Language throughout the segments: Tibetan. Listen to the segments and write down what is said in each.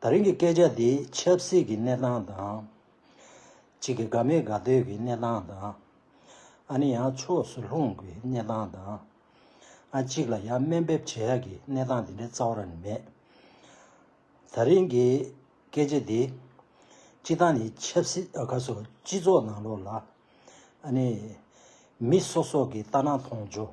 ད་རིང་གི་སྐད་ཆ་འདི་ཆབ་སྲིད་ཀྱི་གནས་སྟངས་དང། གཅིག་གི་དགའ་མེད་དགའ་སྡོད་ཀྱི་གནས་སྟངས་དང། ཨ་ནི་ཡང་ཕྱོགས་སུ་ལྷུང་གི་གནས་སྟངས་དང། ཨ་གཅིག་ལ་ཡང་སྨན་འབེབས་བྱེད་ཡག་གི་གནས་སྟངས་དེ་འདྲའི་རྩ་བ་ར་ནི་མེད། ད་རིང་གི་སྐད་ཆ་འདི། སྤྱི་སྟངས་ནི་ཆབ་སྲིད་ཨ་ཁ་སོ་སྤྱི་ཚོགས་ནང་ལོགས་ལ། ཨ་ནི། མི་སོ་སོ་གི་ལྟ་སྣང་མཐོང་ཆོས།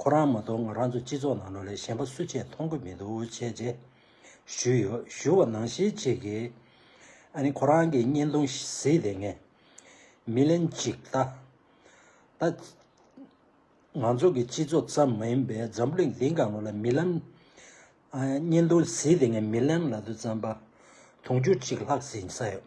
ཁོ་རང་མ་གཏོགས་ང་རང་ཚོ་སྤྱི་ཚོགས་ནང་ལས་གཞན་པ་སུ་ཆེད་མཐོང་གི་མི་འདུག་བྱས་རྗེས་ཞུས་ཡོད་ཞུ་བ་ནང་བཞིན་བྱེད་ཀྱི། ཨ་ནི་ཁོ་རང་གི་བརྙན་ཐུང་གཟིགས་དེ་ངས་མི་ལན་གཅིག་ལྟ། ད། ང་ཚོ་གི་སྤྱི་ཚོགས་ཙམ་མ་ཡིན་པའི་འཛམ་བུ་གླིང་འདི་གང་བོ་ལ་མི་ལན། བརྙན་ཐུང་གཟིགས་དེ་ངས་མི་ལན་ལ་དུ་བརྩམས་པ་དུང་ཕྱུར་གཅིག་ལྷག་ཟིན་ས་ཡོད།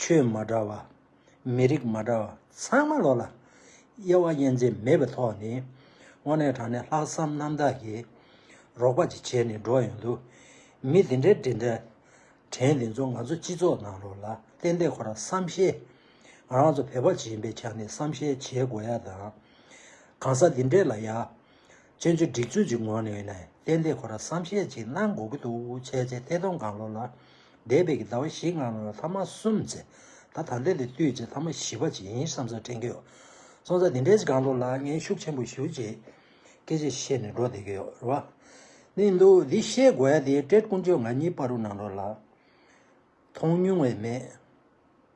ཆོས་མ་འདྲ་བ། མི་རིགས་མ་འདྲ་བ་ཚང་མ་ལོག་ལ། དབྱེ་བ་དབྱེ་འབྱེད་མེད་པའི་ཐོག་ནས། དངོས་གནས་དྲང་གནས་ལྷག་བསམ་རྣམ་དག་གིས། རོགས་པ་ཅིག་བྱས་ནས་འགྲོ་ཡོང་དུ། མི་འདི་འདྲས་དྲིན་དྲན། དྲན་འདི་ཚོ་ང་ཚོ་སྤྱི་ཚོགས་ནང་ལོག་ལ་ཏན་ཏན་ཁོ་རང་བསམ་ཤེས། རང་ཚོ་བོད་པ་ཇི་ཡིན་པའི་ཆ་ནས་བསམ་ཤེས་བྱེད་དགོས་ཡ་དང། གང་ཟག་འདི་འདྲས་ལ་ཡ། བཙོན་འཇུག་སྒྲིག་འཛུགས་ཀྱི་ངོས་ནས་གཏན་བདེ་ཁོ་ལ་བསམ་ཤེས་ཅིག་གནང་དགོས་ཀྱི་འདུག་བྱས་རྗེས་ཐེ་གདོང་གང་ལོག་ལ་འདས་པའི་གི་ཟླ་བ་བཞི་ལྔ་ལོན་ལ་ཐ་མ་གསུམ་བརྩི། ད་ད་ལྟའི་ལས་བཏུས་བཅས་ཐ་མ་བཞི་བ་ཅིག་ཡིན་བསམ་ས་དྲན་གྱི་ཡོད། སོང་ཙང་དེ་འདྲའི་ཅིག་གང་ལོག་ལ་ངས་ཤུགས་ཆེན་པོ་ཞུ་རྗེས་སྐད་ཅིག་བཤད་ནས་འགྲོ་བསྡད་ཀྱི་ཡོད་རེད། ནས་འདུག་འདི་ཤེས་དགོས་ཡ་དེ་སྤྲེལ་དཀོན་མཆོག་ང་གཉིས་པར་རུ་ནང་རོ་ལ། མཐོང་མྱོང་བས་མེད།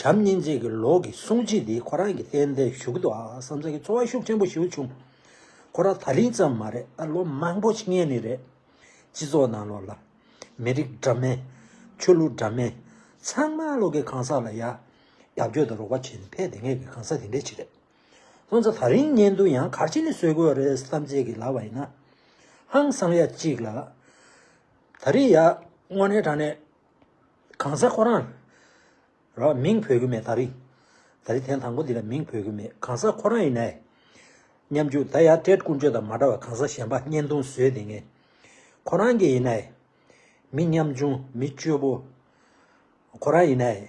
བྱམས་སྙིང་རྗེ་གི་ལོག་གི་གསུང་བྱིན་འདིས་ཁོ་རང་གི་གཏན་བདེའི་བཞུགས་ཏུ་ཨང་བསམ་ཚ་གི་འཚོ་བ་ཤུགས་ཆེན་པོ་ཞིག་བྱུང། ཁོ་རང་ད་རིང་ཙམ་མ་རེད་ད་ལོ་མང་པོ་ཕྱིན་ངེས་ནི་རེད། སྤྱི་ཚོགས་ནང་ལོག་ལ། མི་རིགས་འདྲ་མིན། ཆོས་ལུགས་འདྲ་མིན། ཚང་མ་ལོག་གི་གང་ཟག་ལ་ཡ། རྒྱབ་སྐྱོར་དང་རོགས་པ་བྱེད་ནི་ཕལ་དེ་ངེས་ཀྱི་གང་ཟག་དེ་འདྲའི་ཆེད་རེད། བསམ་ཚ་ད་རིང་གཉེན་འདུན་ཡང་གར་ཆེན་ནི་བཟོས་དགོས་རེད་བསམ་ཚེ་གི་ལབ་པ་ཡིན་ན། ཧང་སང་ཡ་གཅིག་ལ། ད་རིང་ཡ་དངོས་གནས་དྲང་གནས། གང་ཟག་ཁོ་རང་ལ་མིང་འཕོས་ཀྱི་མེད་ད་རིང། ད་རིང་ཐེངས་དང་པོ་འདི་ལ་མིང་འཕོས་ཀྱི་མེད་གང་ཟག་ཁོ་རང་ཡིན་ནའི། སྙམ་རྒྱུ་ད་ཡར་སྤྲད་ཀུན་སྤྱོད་དང་མ་འདྲ་བར་གང་ཟག་གཞན་པ་བརྙན་ཐུང་བཟོས་དེ་ངས་ཁོ་རང་གི་ཡིན་ནའི། མི་ཉམ་ཆུང་མི་སྐྱོ་པོ་ཁོ་རང་ཡིན་ནའི།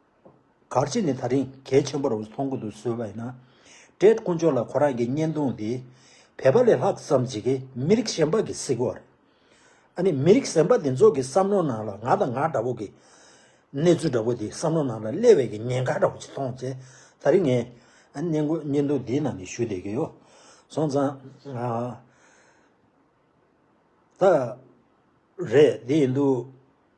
གར་བྱེད་ནི་ད་རིང་གལ་ཆེན་པོར་མཐོང་གི་འདུག་བཟོས་པ་ཡིན་ན། བཀྲས་དཀོན་མཆོག་ལ་ཁོ་རང་གི་བརྙན་ཐུང་འདི་བལ་པ་ལས་ལྷག་བསམ་བྱེད་ཀི་མི་རིགས་གཞན་པ་གི་བསིག་གོ་རེད། ཨ་ནི་མི་རིགས་གཞན་པ་དེ་ཚོ་གི་བསམ་བློ་ནང་ལ་ང་དང་ང་འདྲ་བོ་གི་གནས་ཚུལ་འདྲ་བོ་དེ་བསམ་བློ་ནང་ལ་སླེབས་བས་གི་ཉེན་ཁ་འདྲ་བོ་ཅིག་མཐོང་ཚེ་ད་རིང་ངས་བརྙན་དགོན་བརྙན་ཐུང་འདིའི་ནང་གི་ཞུ་བསྡད་གི་ཡོད། སོང་ཙང། ད་རེད་དེ་ཡིན་དུས།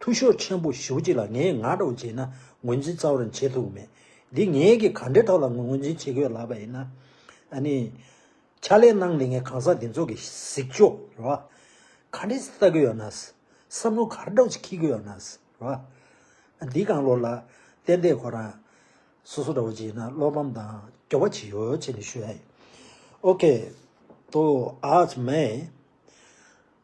ཐུགས་ཤོག་ཆེན་པོ་ཞུ་གཅིག་ལ་ངས་ང་སྒྲོག་བྱས་ན་ངོས་འཛིན་རྩ་བར་བྱེད་ཐུབ་མེད། འདི་ངེད་ཀྱིས་ག་འདྲའི་ཐོག་ལ་ངོས་འཛིན་བྱེད་དགོས་ལབ་པ་ཡིན་ན། ཨ་ནི། ཕྱག་ལས་གནང་ལེ་ངས་གང་ཟག་འདི་ཚོ་གི་གཟིགས་ཕྱོགས་རེད་བ། ག་འདྲས་ལྟ་དགོས་ཡོད་ན། བསམ་བློ་ག་འདྲོག་ཅིག་འཁྱིལ་དགོས་ཡོད་ན་རེད་བ། འདི་གང་ལོག་ལ། ཏན་ཏན་ཁོ་རང། སོ་སོ་འདྲ་བོ་བྱས་ན་བློ་ཕམ་དང་སྐྱོ་བ་ཅི་ཡོད་ཅེས་ནས་ཞུ་ཡ་ཡིན། ཨོ་ཁེ། ཏོ་ཨཱ་ཙི་མེ།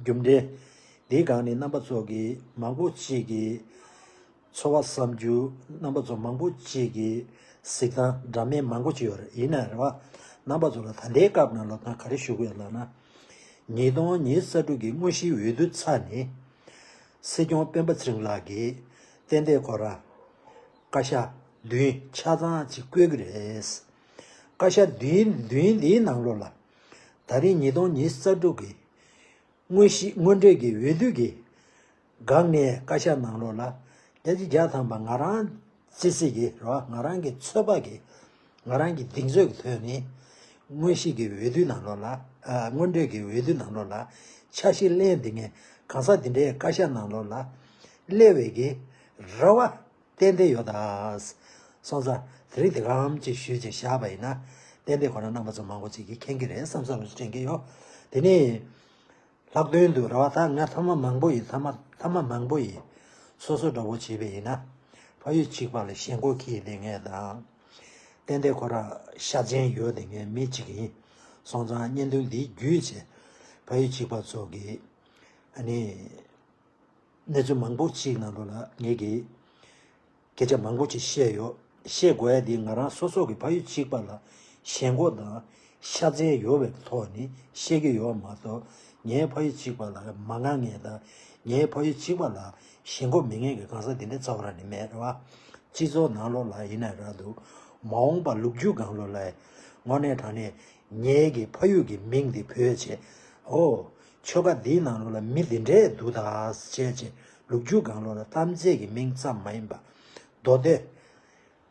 རྒྱུ་འབྲས། དེའི་སྒང་ནས་རྣམ་པ་ཚོགས་ཀྱི་མང་པོ་གཅིག་གིས། འཚོ་བ་བསམ་རྒྱུ། རྣམ་པ་ཚོགས་མང་པོ་གཅིག་གིས། གཟིགས་སྟངས་འདྲ་མིན་མང་པོ་གཅིག་ཡོད་རེད། ཡིན་ན་རེ་བ། རྣམ་པ་ཚོགས་ལ་ད་ལྟའི་སྐབས་ནང་ལོ་ཏང་ག་རེ་ཞུ་དགོས་ལབ་ན། ཉིས་སྟོང་ཉིས་གསར་དྲུག་གི་དངོས་གཞིའི་འོས་བསྡུ་ཚ་ནི། སྲིད་སྐྱོང་སྤེན་པ་ཚེ་རིང་ལགས་ཀྱིས། གཏན་བདེ་ཁོ་ར། བཀའ་ཤག། བདུན་ཆ་ཚང་གཅིག་བསྐོས་ཀྱི་རེད། བཀའ་ཤག་བདུན་བདུན་དེའི་ནང་ལོ་ལ། ད་རིང་ཉིས་སྟོང་ཉིས་གསར་དྲུག་གི་དངོས་གཞིའི་དངོས་འབྲེལ་གྱི་འོས་བསྡུ་གིས། སྒང་ངའི་བཀའ་ཤག་ནང་ལོགས་ལ། རྒྱ་ཆེ་རྒྱ་ཐམ་པ་ང་རང་སྤྱི་སྲིད་ཀྱི་རོ་ང་རང་གི་ཚོད་དཔག་གིས། ང་རང་གི་གདིང་ཚོད་ཀྱི་དོན་ནི། དངོས་གཞིའི་གི་འོས་བསྡུ་ནང་ལོགས་ལ། དངོས་འབྲེལ་གྱི་འོས་བསྡུ་ནང་ལོགས་ལ། འཆར་གཞི་གླེང་འདི་ངས་གང་ཟག་འདི་འདྲའི་བཀའ་ཤག་ནང་ལོགས་ལ། གླེང་བའི་གི་རེ་བ། གཏན་བདེ་ཡོད་དཱ། སོང་ཙང། དེ་རིང་དེ་ག་འམ་ཅིག་ཞུས་ཅིག་བཞག་པ་ཡིན་ན། གཏན་བདེ་ཁོ་ན་རྣམ་པ་ཚོ་མང་པོ་ཅིག་གིས་མཁྱེན་གྱི་རེད་བསམ་བསམ་ལ་དྲན་གྱི་ཡོད། དེ་ནི། ལྷག་དོན་དུ་ར་བ་དག་ང་ཐ་མ་མང་པོ་ཡི་ཐ་མ་ཐ་མ་མང་པོ་ཡི། སོ་སོ་འདྲ་བོ་བྱས་པས་ཡིན་ན། ཕ་ཡུལ་གཅིག་པ་ལ་ཞེན་མགོ་ཁྱི་ཡི་ལས་ངན་དང། གཏན་བདེ་ཁོ་ར་ཤ་ཅན་ཡོད་དེ་ངའི་མི་གཅིག་ཡིན། སོང་ཙང་བརྙན་ཐུང་འདིའི་བརྒྱུད་བཅས། ཕ་ཡུལ་གཅིག་པ་ཚོ་གིས། ཨ་ནི། གནས་ཚུལ་མང་པོ་ཞིག་ནང་དུ་ལ་ངེས་ཀྱི་སྐད་ཆ་མང་པོ་ཞིག་བཤད་ཡོད། བཤད་དགོས་ཡ་དེ་ང་རང་སོ་སོ་གི་ཕ་ཡུལ་གཅིག་པ་ལ་ཞེན་གོ་དང་ཤ་ཚན་ཡོད་བའི་ཐོག་ནས་བཤད་ཀྱི་ཡོད་མ་གཏོགས་ངའི་ཕ་ཡུལ་གཅིག་པ་ལ་མ་དགའ་ངེས་དང་ངའི་ཕ་ཡུལ་གཅིག་པ་ལ་ཞེན་གོ་མི་ངེས་ཀྱི་གང་ཟག་དེ་འདྲའི་རྩ་བ་རང་ནས་མེད་རེད་བ། སྤྱི་ཚོགས་ནང་ལོག་ལ་ཡིན་ན་རག་འདུག་མ་འོངས་པ་ལུག་རྒྱུད་སྒང་ལོག་ལ་ངོ་གནས་དྲང་གནས་ངའི་གི་ཕ་ཡུལ་གི་མིང་འདི་བོད་བྱས། ཧོ། ཆོལ་ཁ་འདིའི་ནང་ལོགས་ལ་མི་འདི་འདྲས་འདུག་ད། བྱས་བྱས། ལུག་ཁྱུ་སྒང་ལོགས་ལ་གཏམ་རྫས་ཀྱི་མིང་ཙམ་མ་ཡིན་པ། མདོ་སྡེ།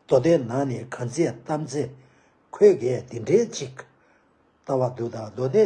མདོ་སྡེ་ནང་ནས་གང་རྫས་གཏམ་རྫས། ཁོས་གས་འདི་འདྲས་ཅིག། ལྟ་བ་འདུག་ད་མདོ་སྡེ།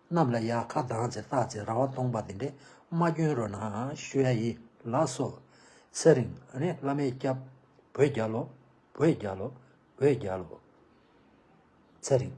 རྣམས་ལ་ཡང་ཁ་གདངས་ཚེ་བརྟག་ཚེ་ར་བ་སྟོང་པ་འདི་འདྲའི་མ་སྐྱོན་རོ་ན་ཤོད་ཡ་ཡི་ལགས་སོ། ཚེ་རིང་རེད་བླ་མའི་སྐྱབས། བོད་རྒྱལ་ལོ། བོད་རྒྱལ་ལོ། བོད་རྒྱལ་ལོ། ཚེ་རིང།